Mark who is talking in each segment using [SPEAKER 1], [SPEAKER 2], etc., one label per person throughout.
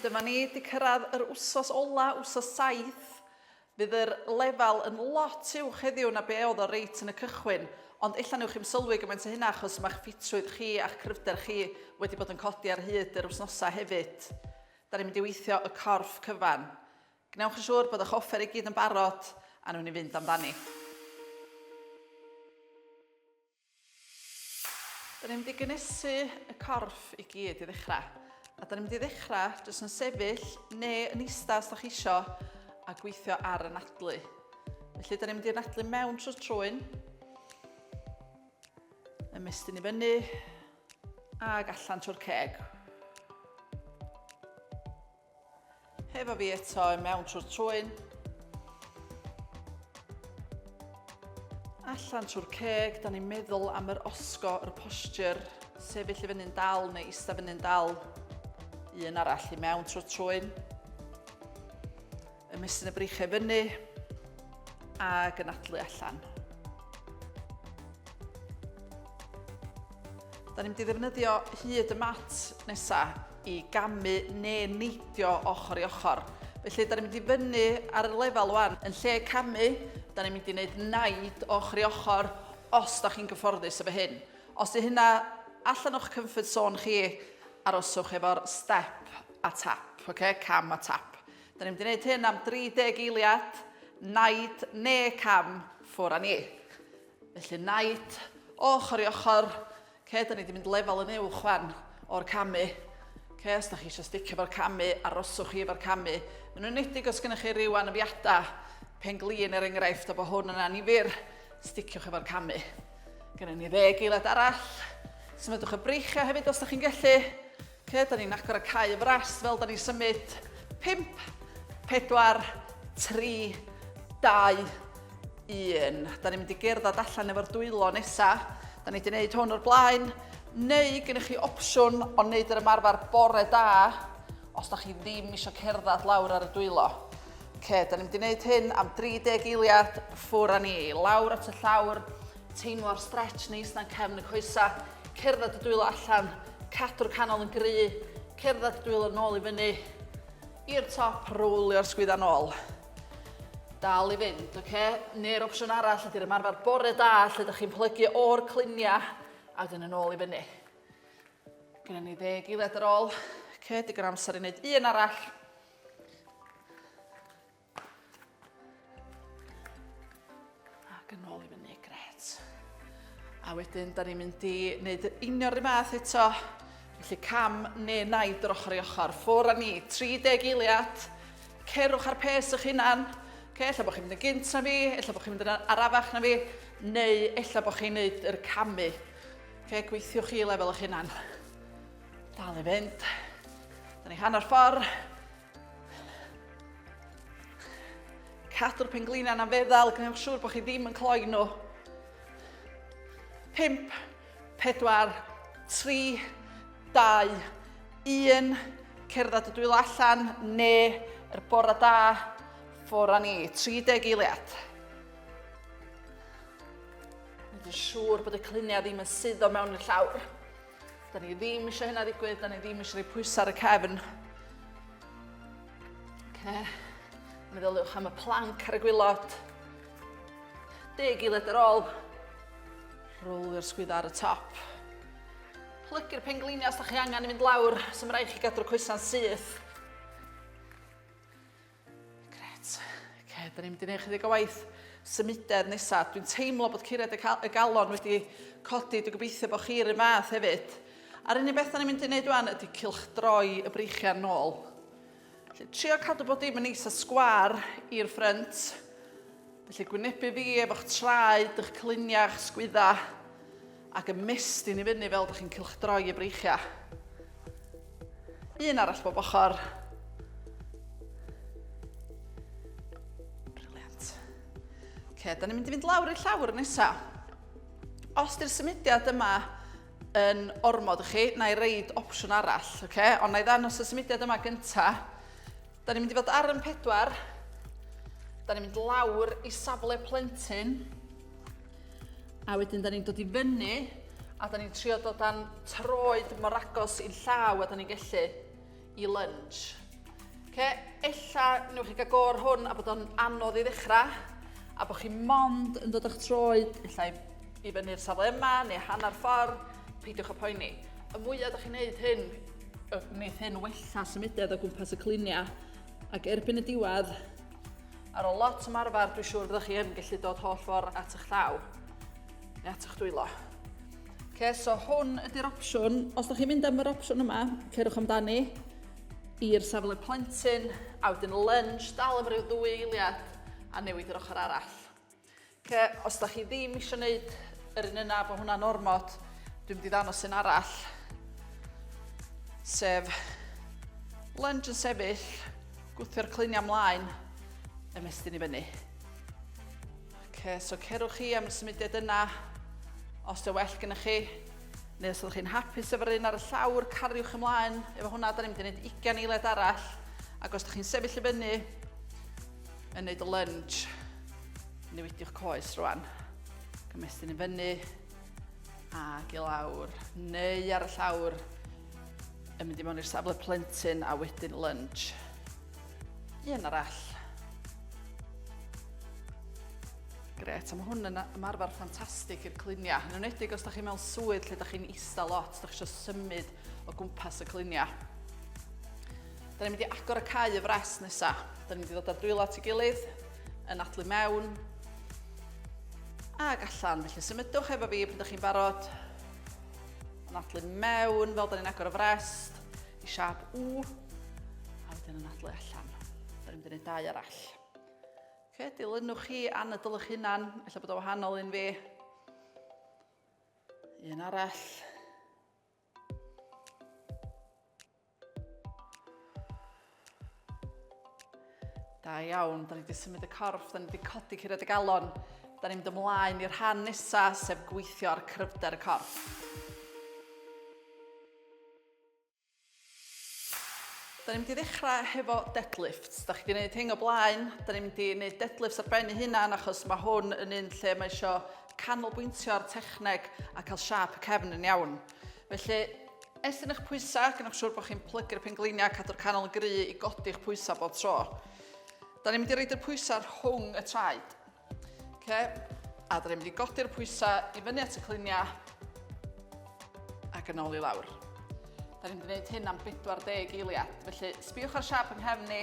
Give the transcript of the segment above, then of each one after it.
[SPEAKER 1] Dyma ni wedi cyrraedd yr wsos ola, wsos saith. Fydd yr lefel yn lot uwch heddiw na be oedd o reit yn y cychwyn, ond ella newch chi'm sylwi gymaint o hynna achos mae'ch ffitrwydd chi a'ch cryfder chi wedi bod yn codi ar hyd yr wsnosau hefyd. Da ni'n mynd i weithio y corff cyfan. Gwnewch yn siŵr bod eich offer i gyd yn barod a newn ni fynd amdani. Da ni'n mynd i gynesu y corff i gyd i ddechrau. A da ni'n mynd i ddechrau jyst yn sefyll neu yn eista os da chi isio a gweithio ar y nadlu. Felly da ni'n mynd i nadlu mewn trwy trwyn. Ymestyn i fyny ac allan trwy'r ceg. Hefo fi eto yn mewn trwy'r trwyn. Allan trwy'r ceg, da ni'n meddwl am yr osgo, yr posture, sefyll i fyny'n dal neu eistedd fyny'n dal. Un arall i mewn trwy'r trwyn. Ymestyn y breichiau fyny a gynadlu allan. Da ni'n mynd i ddefnyddio hyd y mat nesaf i gamu neu neidio ochr i ochr. Felly, da ni'n mynd i fyny ar y lefel wan. Yn lle camu, da ni'n mynd i wneud naid ochr i ochr os da chi'n gyfforddus efo hyn. Os ydy hynna allan o'ch comfort zone chi, aroswch efo'r step a tap, okay? cam a tap. Da ni'n mynd i wneud hyn am 30 eiliad, naid ne cam ffwr a ni. Felly naid ochr i ochr. Ce, da ni wedi mynd lefel yn uwch fan o'r camu. Ce, os da chi eisiau sticio fo'r camu, aroswch chi efo'r camu. Yn unedig os gennych chi rhyw anafiadau, pen glin er enghraifft, a bod hwn yn anifir, sticiwch efo'r camu. Gennym ni ddeg eiliad arall. Symudwch y breichiau hefyd os da chi'n gallu. Lle 'da ni'n agor y cae fras fel 'da ni'n symud? Pump, pedwar, tri, dau, un. 'Da ni'n mynd i gerdded allan efo'r dwylo nesa. 'Da ni 'di wneud hwn o'r blaen. Neu gennych chi opsiwn o wneud yr ymarfer bore da os 'da chi ddim eisiau cerdded lawr ar y dwylo. Oce, 'da ni'n mynd i wneud hyn am 30 eiliad, ffwr â ni. Lawr at y llawr, teimlo'r stretch neis 'na'n cefn y coesau. Cerdded y dwylo allan, cadw'r canol yn gry, cerdded y dwylo nôl i fyny, i'r top, rowlio'r sgwydda nôl. Dal i fynd, oce? Okay? Neu'r opsiwn arall ydy'r ymarfer bore da lle ydych chi'n plygu o'r cluniau ac yn y nôl i fyny. Gynna ni ddeg eiliad ar ôl. Oce, okay, digon amser i wneud un arall. Ac yn ôl i fyny, gret. A wedyn, da ni'n mynd i wneud yr union rhywbeth fath eto. Felly cam neu naid yr ochr i ochr. Ffwr a ni, 30 eiliad. Cerwch ar pes eich hunan. Okay, ella bod chi'n mynd yn gynt na fi, ella bod chi'n mynd yn arafach na fi, neu ella bod chi'n neud yr camu. Okay, gweithiwch chi lefel eich hunan. Dal i fynd. Da ni hanner ffordd. Cadw'r penglinau na feddal, gwnewch siŵr bod chi ddim yn cloi nhw. 5, 4, 3, 2, 1. Cerdded y dwylo allan, ne, yr er bora da, ffwr a ni. 30 eiliad. Mae'n siŵr bod y cliniau ddim yn suddo mewn y llawr. Da ni ddim eisiau hynna ddigwydd, da ni ddim eisiau rhoi pwysau ar y cefn. Okay. Meddyliwch am y planc ar y gwylod. Deg i led ar ôl. Rwlio'r sgwydda ar y top. Plygu'r pengliniau os da chi angen i fynd lawr, sy'n rhaid chi gadw'r coesau'n syth. Grêt. Oce, da ni'n mynd i wneud chydig o waith symudedd nesaf. Dwi'n teimlo bod cured y, y galon wedi codi. Dwi'n gobeithio bod chi'r un fath hefyd. A'r unig beth da ni'n mynd i wneud wan ydy cilch droi y breichiau'n nôl. Felly, trio cadw bod dim yn eisa sgwar i'r ffrynt. Felly, gwynebu fi efo'ch traed, eich clyniau, eich sgwydda. Ac ymestyn i fyny fel dych chi'n cylchdroi y breichiau. Un arall bob ochr. Briliant. Ok, da ni'n mynd i fynd lawr i'r llawr nesaf. Os di'r symudiad yma yn ormod i chi, na i reid opsiwn arall, okay? ond na i ddanos y symudiad yma gyntaf, Da ni'n mynd i fod ar yn pedwar. Da ni'n mynd lawr i safle plentyn. A wedyn da ni'n dod i fyny a da ni'n trio dod â'n troed mor agos i'n llaw a da ni'n gellu i lunge. Ce, ella newch chi gael gor hwn a bod o'n anodd i ddechrau a bod chi mond yn dod o'ch troed ella i fyny'r safle yma neu hanner ffordd, peidiwch y poeni. Y mwyaf ydych chi'n gwneud hyn, Wneith hyn wella symudedd o gwmpas y cliniau ac erbyn y diwedd, ar ôl lot o marfer, dwi'n siŵr byddwch chi yn gallu dod holl ffordd at eich llaw neu at eich dwylo. Okay, so hwn ydy'r opsiwn. Os ydych chi'n mynd am yr opsiwn yma, cerwch amdani i'r safle plentyn, a wedyn lunge, dal am ryw ddwy eiliad, a newid yr ochr arall. Oce, os da chi ddim eisiau gwneud yr un yna, fo hwnna'n ormod, dwi'n mynd i ddanos un arall. Sef lunge yn sefyll, gwthio'r cluniau mlaen, ymestyn i fyny. Oce, so cerwch chi am y symudiad yna, os dy well gyda chi, neu os ydych chi'n hapus efo'r un ar y llawr, cariwch ymlaen. Efo hwnna, da ni'n mynd i wneud 20 eiliad arall. Ac os ydych chi'n sefyll i fyny, Yn neud y lunge. Newidiwch coes rwan. Gymestyn i fyny. Ac i lawr. Neu ar y llawr. Yn mynd i mewn i'r safle plentyn a wedyn lunge. Un arall. Gret, a mae hwn yn ymarfer ffantastig i'r cliniau. Yn ymwedig os da chi mewn swydd lle da chi'n eista lot, da chi eisiau symud o gwmpas y cliniau. Da ni'n mynd i agor y cae y fres nesa. Da ni'n mynd i ddod â dwylo at ei gilydd, yn adlu mewn, ac allan. Felly symudwch efo fi pan da chi'n barod. Yn adlu mewn, fel da ni'n agor y frest, i siap U, a wedyn yn adlu allan. Da ni'n mynd i wneud dau arall. Okay, dilynwch chi anadl eich hunan, efallai bod o wahanol un fi. Un arall. Da iawn, da ni wedi symud y corff, da ni wedi codi cyrraedd y galon. Da ni'n mynd ymlaen i'r rhan nesaf, sef gweithio ar cryfder y corff. Da ni'n mynd i ddechrau hefo deadlifts. Da chi wedi gwneud hyn o blaen. Da ni'n mynd i wneud deadlifts ar ben ei hunan achos mae hwn yn un lle mae eisiau canolbwyntio ar techneg a cael siap y cefn yn iawn. Felly, estyn eich pwysau, gynnwch siwr bod chi'n plygu'r pengliniau, cadw'r canol yn gry i godi'ch pwysau bob tro. Da ni'n mynd i roed y pwysau rhwng y traed. Okay. A dyn ni'n mynd i godi'r pwysau i fyny at y cliniau ac yn ôl i lawr. Da ni'n mynd i wneud hyn am 40 eiliad. Felly, sbiwch ar siap yng nghefn ni.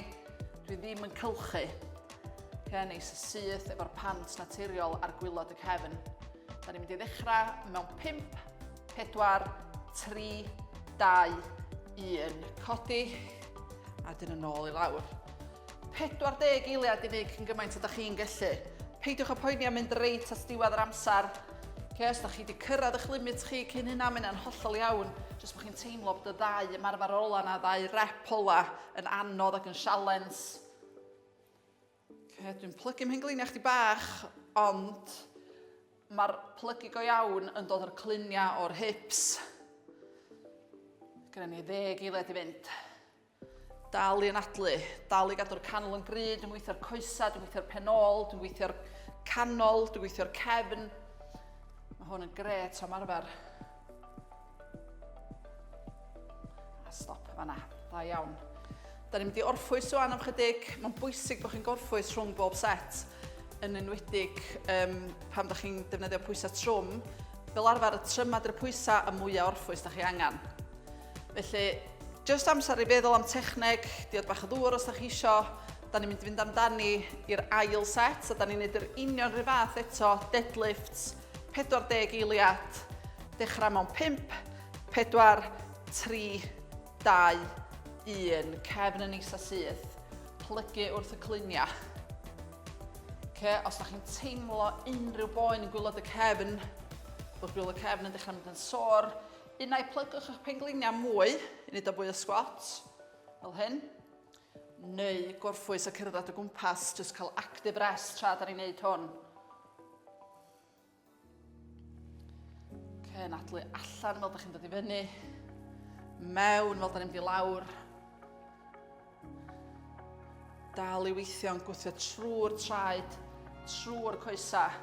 [SPEAKER 1] Dwi ddim yn cylchu. Okay, neis y syth efo'r pant naturiol ar gwylod y cefn. Da ni'n mynd i ddechrau mewn 5, 4, 3, 2, 1. Codi a dyn yn ôl i lawr. 40 eiliad i wneud cyn gymaint â da chi'n gellu. Peidiwch â poeni am mynd reit at diwedd yr amser. Okay, os da chi wedi cyrraedd eich limit chi cyn hynna, mae hynna'n hollol iawn. Jyst bod chi'n teimlo bod y ddau ymarfer ola na ddau rep ola yn anodd ac yn sialens. Okay, dwi'n plygu mhen gliniau chdi bach, ond mae'r plygu go iawn yn dod o'r cluniau o'r hips. Gyda ni ddeg eiliad i fynd. Dal i anadlu, dal i gadw'r canol yn gry, dwi'n gweithio'r coesau, dwi'n gweithio'r penol, dwi'n gweithio'r canol, dwi'n gweithio'r cefn. Mae hwn yn gret am arfer. A stop fanna, da iawn. Da ni'n mynd i orffwys o'n am chydig, mae'n bwysig bod chi'n gorffwys rhwng bob set, yn enwedig um, pam da chi'n defnyddio pwysau trwm. Fel arfer, y trymad i'r pwysau y mwyaf orffwys da chi angen. Felly, jyst amser i feddwl am techneg, diod bach o ddŵr os da chi isio. Da ni'n mynd i fynd amdani i'r ail set, a da ni'n neud yr union rhyw fath eto, deadlifts, 40 eiliad, dechrau mewn 5, 4, 3, 2, 1, cefn yn is a syth, plygu wrth y cluniau. Okay, os da chi'n teimlo unrhyw boen yn gwylod y cefn, bod gwylod y cefn yn dechrau mynd yn sôr, Innau plygwch eich pengliniau mwy i wneud o fwy o sgwats, fel hyn, neu gorffwys a cerdded o gwmpas, jyst cael active rest tra da ni'n wneud hwn. Okay, nadlu allan fel da chi'n dod i fyny, mewn fel da ni'n mynd i lawr, dal i weithio yn gwthio trwy'r traed, trwy'r coesau.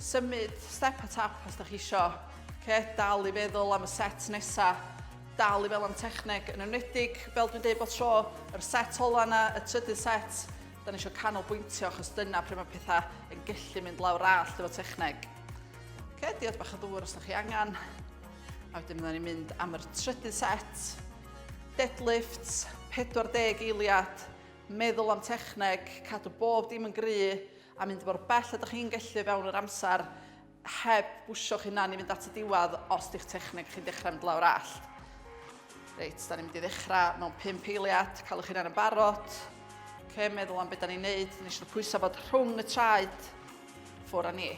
[SPEAKER 1] Symud step a tap os da chi isio. Oce, dal i feddwl am y set nesa. Dal i fel am techneg, yn enwedig, fel dwi'n dweud bod tro, yr set ola yna, y trydydd set, da ni eisiau canolbwyntio achos dyna pryd mae pethau yn gallu mynd lawr all efo techneg. Oce, diod bach o ddŵr os da chi angen. A wedyn da ni'n mynd am yr trydydd set. Deadlifts, 40 eiliad, meddwl am techneg, cadw bob dim yn gry, a mynd mor bell a dych chi'n gallu fewn yr amser heb bwsio'ch hunan i fynd at y diwedd os di'ch techneg chi'n dechrau mynd lawr allt. Reit, da ni'n mynd i ddechrau mewn pum peiliad, cael eich hunan yn barod. Ce, meddwl am beth da ni'n neud, ni eisiau pwysau fod rhwng y traed ffwr a ni.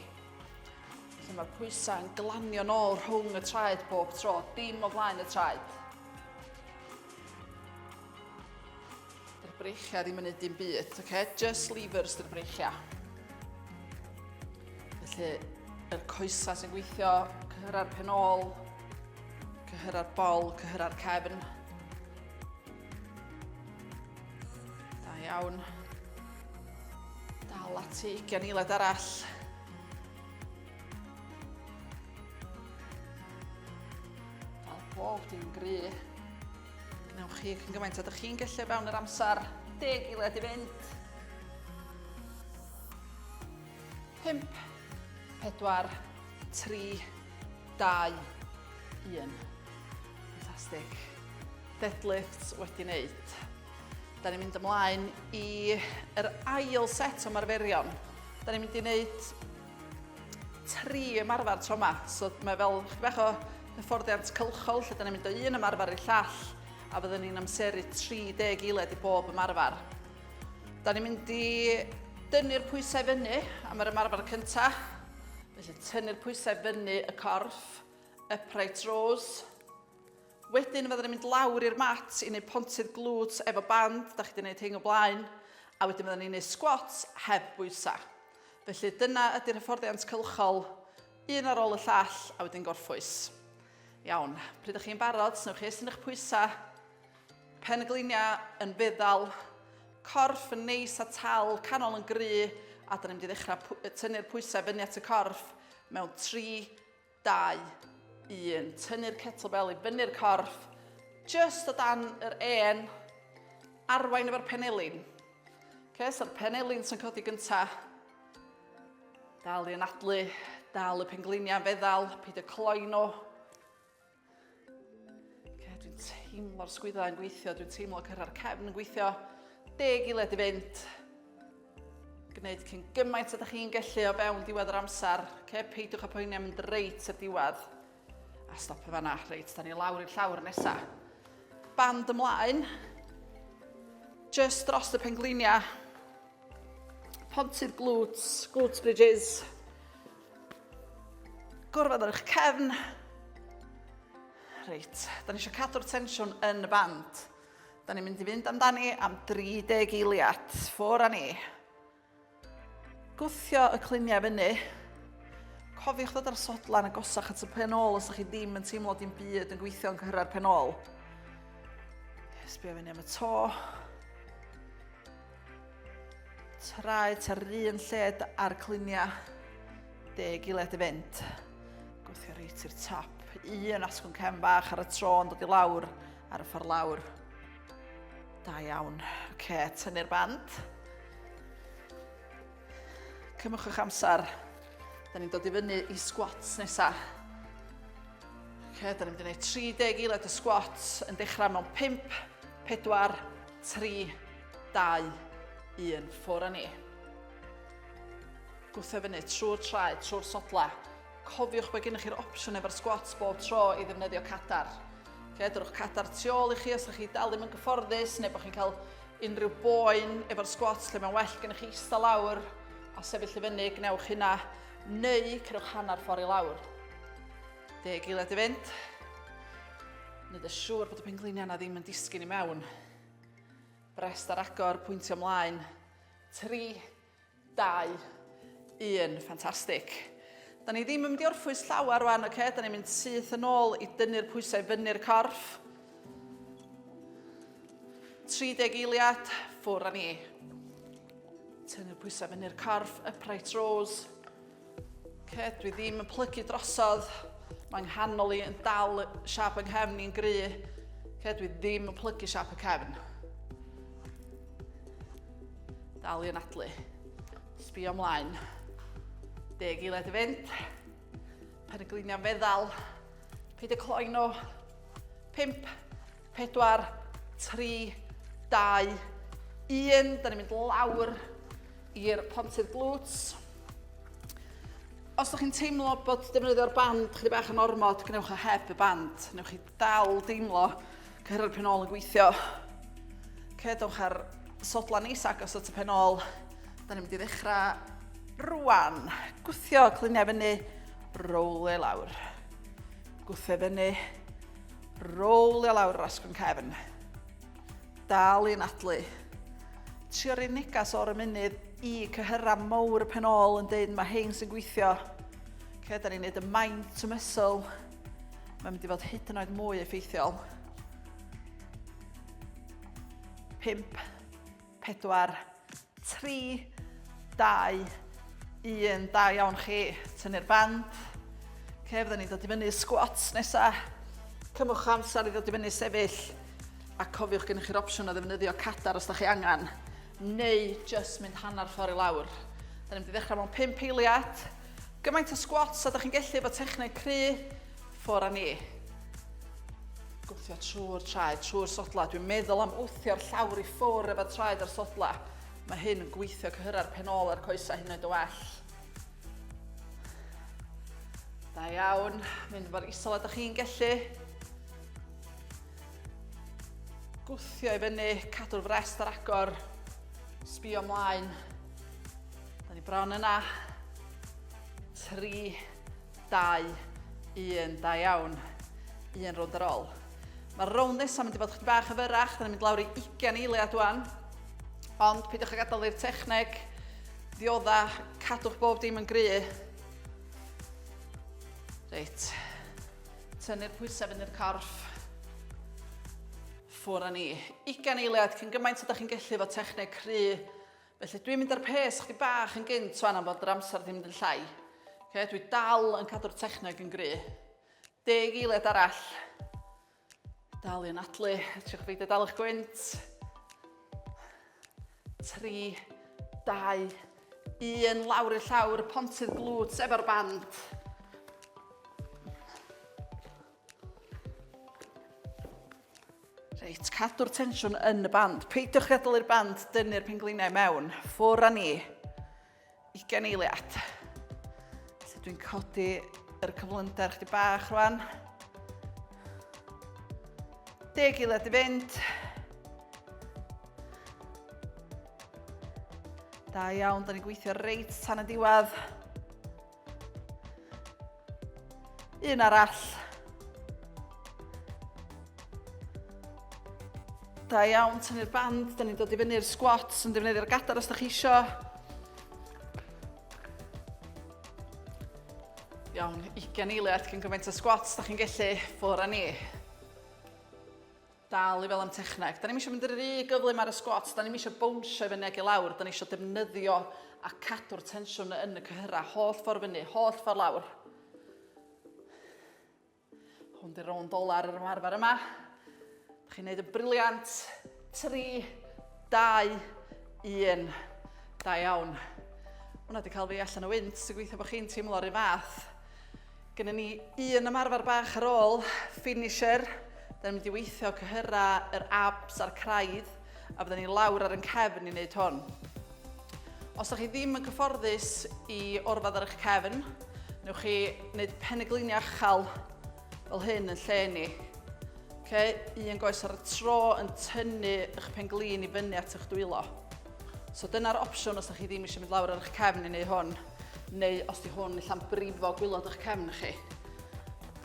[SPEAKER 1] Felly mae'r pwysau yn glanio nôl rhwng y traed bob tro, dim o flaen y traed. Dy'r breichiau ddim yn neud dim byd, oce? Okay? Just levers dy'r breichiau. Felly, yr coesa sy'n gweithio, cyhyra'r penol, cyhyra'r bol, cyhyra'r cefn. Da iawn. Dal ati, gan eilad arall. Fel bob dim gry. Wnewch chi cyn gymaint a dych chi'n gallu o fewn yr amser deg i led i fynd. 5, 4, 3, 2, 1. Fantastic. Deadlifts wedi wneud. Da ni'n mynd ymlaen i yr ail set o marferion. Da ni'n mynd i wneud tri ymarfer tro 'ma, so mae fel chydig bach o hyfforddiant cylchol lle 'dan ni'n mynd o un ymarfer i'r llall a fyddwn ni'n amseru 30 eiled i bob ymarfer. Da ni'n mynd i dynnu'r pwysau fyny am yr ymarfer cyntaf, felly tynnu'r pwysau fyny y corff, upright rows. Wedyn fydden ni'n mynd lawr i'r mat i wneud pontydd glwt efo band, da chi wedi gwneud hyn o blaen, a wedyn fydden ni'n gwneud squats heb bwysau. Felly, dyna ydy'r hyfforddiant cylchol, un ar ôl y llall, a wedyn gorffwys. Iawn, pryd ydych chi'n barod, snewch chi estyn eich pwysau, pen y gliniau yn feddal, corff yn neis a tal, canol yn gry, a dyna ni'n mynd i ddechrau tynnu'r pwysau fyny at y corff mewn 3, 2, 1. Tynnu'r kettlebell i fyny'r corff, just o dan yr en, arwain efo'r penelin. Okay, so'r penelin sy'n codi gynta. Dal i anadlu, dal y pengliniau feddal, peidio cloi nhw. Okay, dwi'n teimlo'r sgwyddau yn gweithio, dwi'n teimlo cyrra'r cefn yn gweithio. Deg i led i fynd. Gwneud cyn gymaint ydych chi'n gallu o fewn diwedd yr amser. Okay, peidiwch â poeni am mynd reit i'r diwedd. A stop y fanna. Reit, da ni lawr i'r llawr nesa. Band ymlaen. Just dros y pengliniau. Pontydd glwts, glwts bridges. Gorfod ar eich cefn. Reit, da ni eisiau cadw'r tensiwn yn y band. Da ni'n mynd i fynd amdani am 30 eiliad. Ffwr a ni. Gwthio y cluniau fyny. Cofiwch ddod ar sodlan a gosach at y pen ôl os ydych chi ddim yn teimlo dim byd yn gweithio yn cyhyrra'r pen ôl. Sbio fyny am y to. Traed ar yr un lled a'r cluniau. Deg i led y fynd. Gwthio reit i'r top. Un asgwn cefn bach ar y tro yn dod i lawr ar y ffordd lawr. Da iawn. Oce, tynnu'r band. Cymwch eich amser. Da ni'n dod i fyny i squats nesa. Oce, da ni'n mynd i wneud 30 i led y squats yn dechrau mewn 5, 4, 3, 2, 1, ffwr a ni. Gwthio fyny trwy'r traed, trwy'r sodle. Cofiwch bod gennych chi'r opsiwn efo'r squats bob tro i ddefnyddio cadar. Okay, dyrwch cadar tu ôl i chi os ydych chi dal ddim yn gyfforddus neu bod chi'n cael unrhyw boen efo'r squats lle mae'n well gennych chi eistedd lawr a sefyll i fyny, gwnewch hynna, neu cerwch hanner ffordd i lawr. Deg eiliad i fynd. Nid y siŵr bod y pengliniau yna ddim yn disgyn i mewn. Rest ar agor, pwyntio mlaen. 3, 2, 1. Ffantastig. Da ni ddim yn mynd i orffwys llawer rwan, oce? Okay? Da ni'n mynd syth yn ôl i dynnu'r pwysau fyny'r corff. 30 eiliad, ffwr â ni. Tynnu'r pwysau fyny'r corff, upright rows. Oce, dwi ddim yn plygu drosodd. Mae'n nghanol i yn dal siap yng nghefn i'n gry. Oce, dwi ddim yn plygu siap y cefn. Dal i anadlu. Sbio ymlaen. Deg i led i fynd. Pen y gliniau feddal. Peidio cloi nhw. Pimp. 4, 3, 2, 1. Da ni'n mynd lawr i'r pontydd glwts. Os ydych chi'n teimlo bod defnyddio'r band chyddi bach yn ormod, gwnewch o heb y band. Newch chi dal deimlo cyhyrra'r penol yn gweithio. Cedwch ar sodla neis agos at y penol. Da ni'n mynd i ddechrau rwan. Gwthio, clyniau fyny, rowle lawr. Gwthio fyny, Rowlio lawr yr asgwrn cefn. Dal i nadlu. Trio rhoi negas o'r ymunydd i cyhyrra mowr y pen ôl yn dweud mae hein sy'n gweithio. Lle da ni'n gwneud y mind to muscle, mae'n mynd i fod hyd yn oed mwy effeithiol. 5, 4, 3, 2, 1, da iawn chi, tynnu'r band. Ok, fydden ni'n dod i fyny squats nesa. Cymwch amser i ddod i fyny sefyll. A cofiwch gennych chi'r opsiwn o ddefnyddio cadar os da chi angen. Neu just mynd hanner ffordd i lawr. Da ni'n mynd i ddechrau mewn 5 eiliad. Gymaint o squats a da chi'n gellu efo techneg cry. Ffwr a ni. Gwthio trwy'r traed, trwy'r sodla. Dwi'n meddwl am wthio'r llawr i ffwr efo traed a'r sodla. Mae hyn yn gweithio cyhyrra'r penol a'r coesau hyn oed o well. Da iawn, mynd mor isol ydych chi'n gellu. Gwthio i fyny, cadw'r frest ar agor, sbio ymlaen. Da ni bron yna. Tri, Dau, un, da iawn. Un rownd ar ôl. Mae'r rownd nesaf mynd i fod chdi bach yn fyrach, da ni'n mynd lawr i 20 eiliad wan. Ond peidiwch a gadael i'r techneg ddiodda, cadwch bob dim yn gry. Reit, tynnu'r pwysau fynd i'r corff. Ffwr â ni. 20 eiliad cyn gymaint o da chi'n gallu fod techneg cry Felly dwi'n mynd ar pês chdi bach yn gynt wan am fod yr amser ddim mynd yn llai. Okay, dwi dal yn cadw'r techneg yn gry. Deg eiliad arall. Dal i'n adlu, triwch beidio dal eich gwynt. 3, 2, 1, lawr i'r llawr, pontydd glwt efo'r band. Reit, cadw'r tensiwn yn y band. Peidiwch gadalu'r band dynnu'r pengliniau mewn. Ffwr a ni. 20 eiliad. Felly dwi'n codi yr cyflymder chdi bach rwan. 10 eiliad i fynd. Da iawn, da ni'n gweithio reit tan y diwedd. Un arall. Da iawn, tynnu'r band, da ni'n dod i fyny'r squats yn defnyddio'r gadar os da chi isio. Iawn, 20 eiliad cyn gymaint o squats da chi'n gellu ffwr â ni. Dal i fel am techneg. Da ni'm eisiau mynd rhy gyflym ar y sgwats, da ni'm eisiau bownsio i fyny ag i lawr, da ni eisiau defnyddio a cadw'r tensiwn yn y cyhyrau, holl ffordd fyny, holl ffordd lawr. Hwn di'r rownd ola'r yr ymarfer yma. Da chi'n neud y briliant. 3, 2, 1. Da iawn. Hwna wedi cael fi allan o wynt, sy'n gweithio bod chi'n teimlo'r un fath. Gynnon ni un ymarfer bach ar ôl finisher. Da ni'n mynd i weithio cyhyra yr abs a'r craidd a fydden ni lawr ar yn cefn i wneud hwn. Os ydych chi ddim yn cyfforddus i orfod ar eich cefn, newch chi wneud peniglinio achal fel hyn yn lle ni. Okay? Un goes ar y tro yn tynnu eich penglin i fyny at eich dwylo. So dyna'r opsiwn os ydych chi ddim eisiau mynd lawr ar eich cefn i wneud hwn, neu os di hwn allan brifo gwylod eich cefn chi.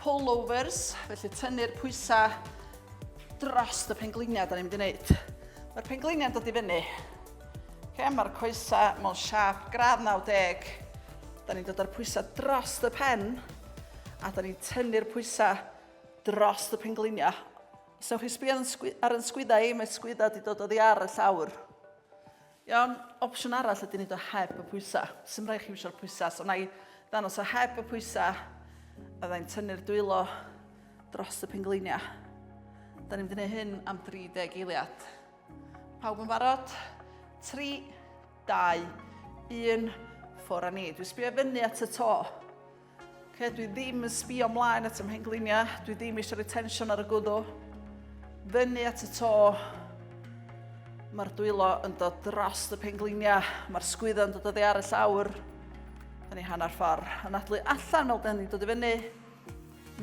[SPEAKER 1] Pullovers, felly tynnu'r pwysau dros y pengliniau da ni'n mynd i wneud. Mae'r pengliniau'n dod i fyny. Okay, Mae'r coesau mewn siap gradd 90. Da ni'n dod â'r pwysau dros y pen a da ni'n tynnu'r pwysau dros y pengliniau. So chi sbio ar yn sgwydda i, mae sgwydda wedi dod oddi ar y llawr. Iawn, opsiwn arall ydy wneud o heb y pwysau. Sym rhaid chi wisio'r pwysau, so na i ddanos o heb y pwysau. A ddau'n tynnu'r dwylo dros y pengleiniau. Da ni'n gwneud hyn am 30 eiliad. Pawb yn barod? 3, 2, 1, ffwr a ni. Dwi'n sbio fyny at y to. Ok, dwi ddim yn sbio mlaen at y mhengliniau, dwi ddim eisiau rhoi tensiwn ar y gwddw. Fyny at y to, mae'r dwylo yn dod dros y pengliniau, mae'r sgwyddo yn dod o ddear y llawr. Da ni hanner ffordd. Yn adlu allan fel da ni'n dod i fyny,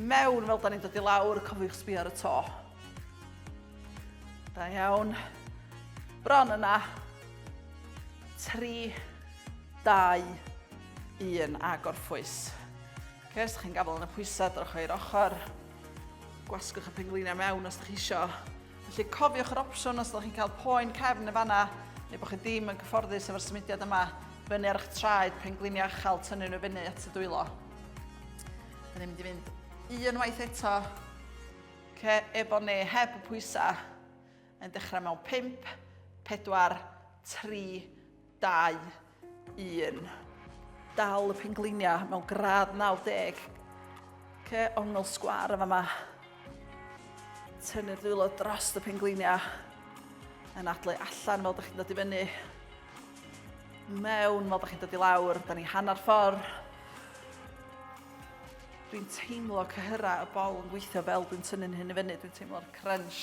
[SPEAKER 1] mewn fel da ni'n dod i lawr, cofiwch sbio ar y to. Da iawn. Bron yna. 3, 2, 1 a gorffwys. Ok, os ydych chi'n gafel yn y pwysau, drwch o'r ochr. Gwasgwch y pengliniau mewn os ydych chi eisiau. Felly cofiwch yr opsiwn os ydych chi'n cael poen cefn y fanna, neu bod chi ddim yn cyfforddus efo'r symudiad yma, fyny ar eich traed, pengliniau achal, tynnu nhw fyny at y dwylo. Da ni'n mynd i fynd un waith eto, ce, efo neu heb y pwysau, yn dechrau mewn 5, 4, 3, 2, 1. Dal y pengliniau mewn gradd 90. Ce, ongl sgwar yn fama. Tynnu'r dwylo dros y pengliniau. Yn adlu allan fel da chi'n dod i fyny. Mewn fel da chi'n dod i lawr. Da ni hanner ffordd. Dwi'n teimlo cyhyra y bol yn gweithio fel dwi'n tynnu'n hyn i fyny. Dwi'n teimlo'r crunch.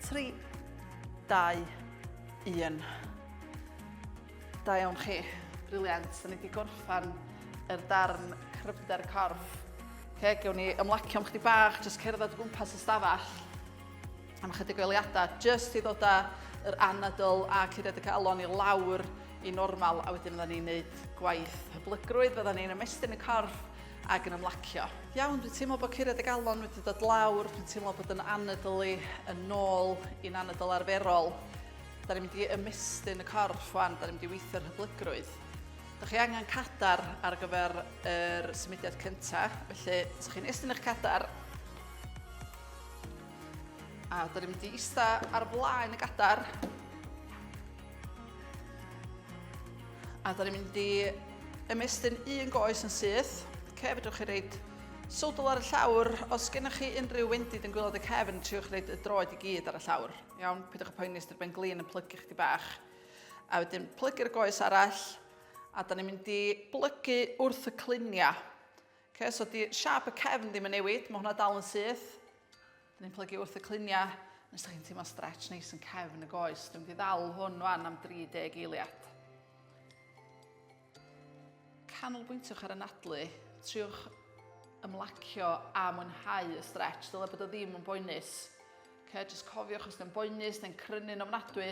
[SPEAKER 1] 3, 2, 1. Da iawn chi. Briliant. Da ni wedi gorffan yr darn cryfder corff. Okay, gewn ni ymlacio am chdi bach, jyst cerdded o gwmpas y stafell am ychydig o eliadau, jyst i ddod â yr anadl a curiad y calon i lawr i normal, a wedyn fydda ni'n neud gwaith hyblygrwydd, fydda ni'n ymestyn y corff, ac yn ymlacio. Iawn, dwi'n teimlo bod curiad y galon wedi dod lawr, dwi'n teimlo bod yn anadl i yn nôl i'n anadl arferol. Da ni'n mynd i ymestyn y corff fan, da ni'n mynd i weithio'r hyblygrwydd. Da chi angen cadar ar gyfer yr symudiad cyntaf, felly os chi'n estyn eich cadar, a da ni'n mynd i eista ar blaen y gadar, A da ni'n mynd i ymestyn un goes yn syth. Ce, fedrwch chi reid sodl ar y llawr. Os gennych chi unrhyw wendid yn gwylod y cefn, triwch reid y droed i gyd ar y llawr. Iawn, pidwch y poeni os dy'r ben glin yn plygu chdi bach. A wedyn plygu'r goes arall, a da ni'n mynd i blygu wrth y cliniau. Okay, so di siap y cefn ddim yn newid, mae hwnna dal yn syth. Dyn ni'n plygu wrth y cluniau, nes da chi'n teimlo stretch neis yn cefn y goes. Dwi'n mynd i ddal hwn fan am 30 eiliad. Canolbwyntiwch ar y nadlu, triwch ymlacio a mwynhau y stretch, dyle bod o ddim yn boenus. Okay, just cofiwch os ydym boenus neu'n crynu'n ofnadwy,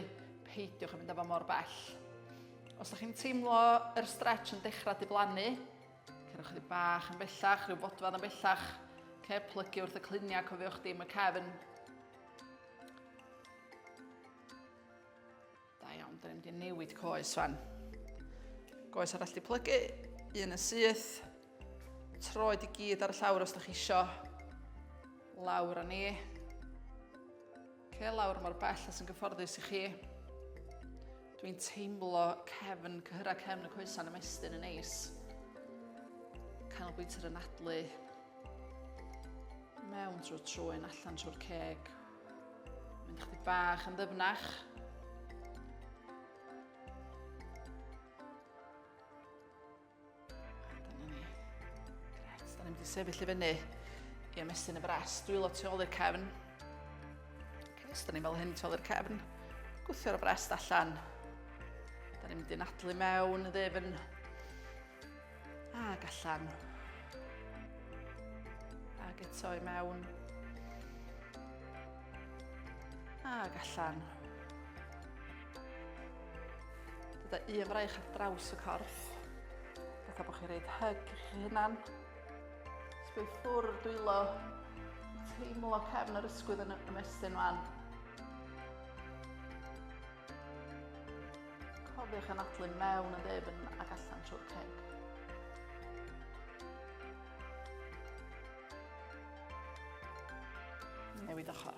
[SPEAKER 1] peidiwch yn mynd efo mor bell. Os ydych chi'n teimlo yr stretch yn dechrau diflannu, Cerwch chdi bach yn bellach, rhyw fodfad yn bellach. Ce, plygu wrth y cluniau, cofiwch dim y cefn. Da iawn, dyn ni'n mynd i newid coes fan. Goes arall di plygu, un yn syth. Troed i gyd ar y llawr os da chi isio. Lawr â ni. Oce, lawr mor bell a sy'n gyfforddus i chi. Dwi'n teimlo cefn, cyhyrau cefn y coesan y mestyn yn neis. Canolbwynt yr anadlu. Mewn trwy trwy'n allan trwy'r ceg. Mynd chdi bach yn ddyfnach. Da ni'n mynd i sefyll i fyny i ymestyn y bres. Dwylo tu ôl i'r cefn. Cefs, da ni'n fel hyn tu ôl i'r cefn. Gwthio'r bres allan. Da ni'n mynd i'n adlu mewn, ddefn. Ac allan. Ac eto i mewn. Ac allan. Gyda un fraich ar draws y corff. Fatha bod chi'n rhaid hyg i chi hunan. Sgwy ffwrdd dwylo. Teimlo cefn yr ysgwydd yn ymestyn fan. Cofiwch yn adlu mewn y ddefn ac allan trwy'r ceg. newid ochr.